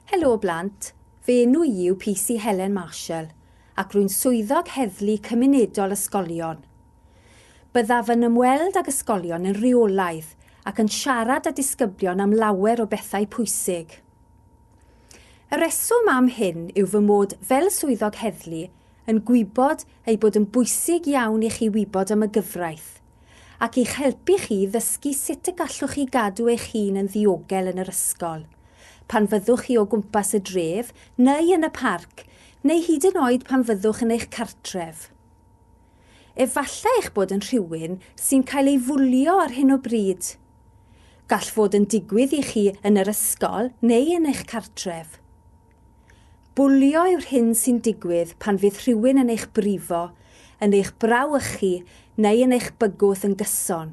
Helo blant, fy enw i yw PC Helen Marshall ac rwy'n swyddog heddlu cymunedol ysgolion. Byddaf yn ymweld ag ysgolion yn rheolaidd ac yn siarad â disgyblion am lawer o bethau pwysig. Y reswm am hyn yw fy mod fel swyddog heddlu yn gwybod ei bod yn bwysig iawn i chi wybod am y gyfraith, ac i'ch helpu chi i ddysgu sut y gallwch chi gadw eich hun yn ddiogel yn yr ysgol, pan fyddwch chi o gwmpas y dref neu yn y parc, neu hyd yn oed pan fyddwch yn eich cartref. Efallai eich bod yn rhywun sy'n cael ei fwlio ar hyn o bryd. Gall fod yn digwydd i chi yn yr ysgol neu yn eich cartref. Bwlio yw'r hyn sy'n digwydd pan fydd rhywun yn eich brifo, yn eich brawychu neu yn eich bygwth yn gyson.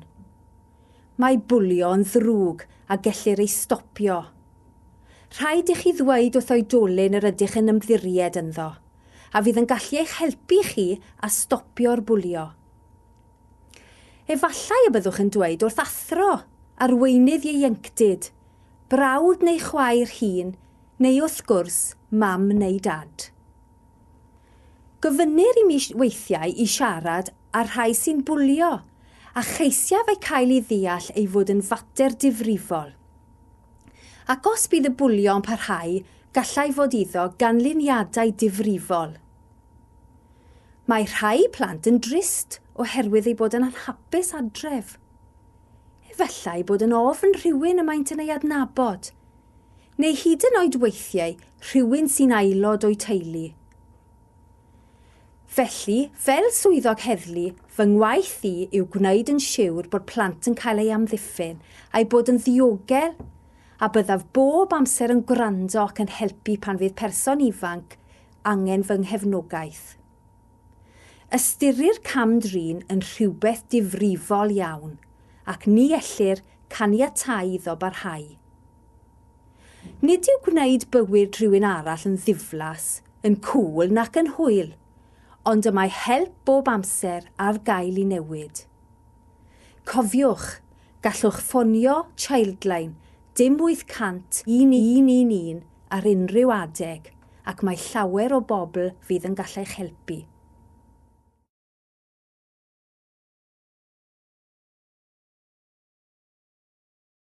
Mae bwlio yn ddrwg a gellir ei stopio. Rhaid i chi ddweud wrth oedolyn yr ydych yn ymddiried ynddo, a fydd yn gallu eich helpu chi a stopio'r bwlio. Efallai y byddwch yn dweud wrth athro, arweinydd ieuenctid, brawd neu chwaer hŷn, neu wrth gwrs, mam neu dad. Gofynnir i mi weithiau i siarad â'r rhai sy'n bwlio, a cheisiaf eu cael i ddeall ei fod yn fater difrifol. Ac os bydd y bwlio yn parhau, gallai fod iddo ganlyniadau difrifol. Mae rhai plant yn drist oherwydd eu bod yn anhapus adref. Efallai bod yn ofn rhywun y maent yn ei adnabod, neu hyd yn oed weithiau rhywun sy'n aelod o'u teulu. Felly, fel swyddog heddlu, fy ngwaith i yw gwneud yn siwr bod plant yn cael eu amddiffyn, a'u bod yn ddiogel, a byddaf bob amser yn gwrando ac yn helpu pan fydd person ifanc angen fy nghefnogaeth. Ystyrir cam-drin yn rhywbeth difrifol iawn ac ni ellir caniatáu iddo barhau. Nid yw gwneud bywyd rhywun arall yn ddiflas, yn cŵl nac yn hwyl, ond y mae help bob amser ar gael i newid. Cofiwch, gallwch ffonio Childline dim 800 111 ar unrhyw adeg ac mae llawer o bobl fydd yn gallech helpu.